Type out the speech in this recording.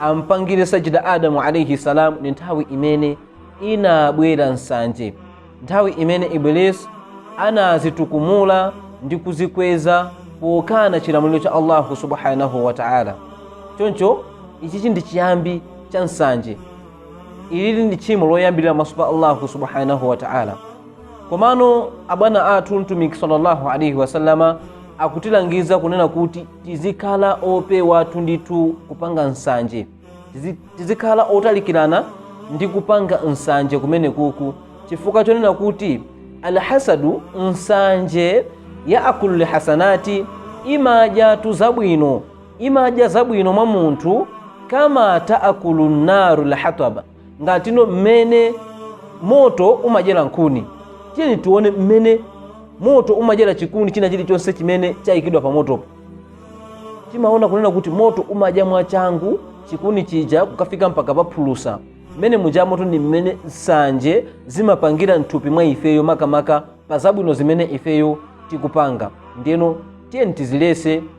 ampangire sajida adamu alaihi salam ndi nthawi imene inabwera nsanje nthawi imene iblis anazitukumula ndi kuzikweza pokana chilamuliro cha allahu subhanahu wa taala choncho ichichi ndi chiyambi cha nsanje ilili ndi tchimo loyambirira pamaso pa allahu subhanahu wa taala komano abwana athu mtumiki sallallahu alaihi wasallama akutilangiza kunena kuti tizikhala opewatu ndithu kupanga nsanje Tizi- tizikhala otalikirana ndi kupanga nsanje kumenekuku chifukwa chonena kuti alhasadu nsanje yaakulu lhasanati imadyatu zabwino imadya zabwino mwa munthu kama taakulu nnaru lhataba ngatino mmene moto umadyera nkhuni tiyeni tione mmene moto umadyera chikuni china chilichonse chimene chayikidwa pa motopo timaona kunena kuti moto umadya mwachangu chikuni chija kukafika mpaka paphulusa mmene muja moto ndi mmene nsanje zimapangira mthupi mwa ifeyo makamaka pa zabwino zimene ifeyo tikupanga ndiyeno tiyeni tizilesa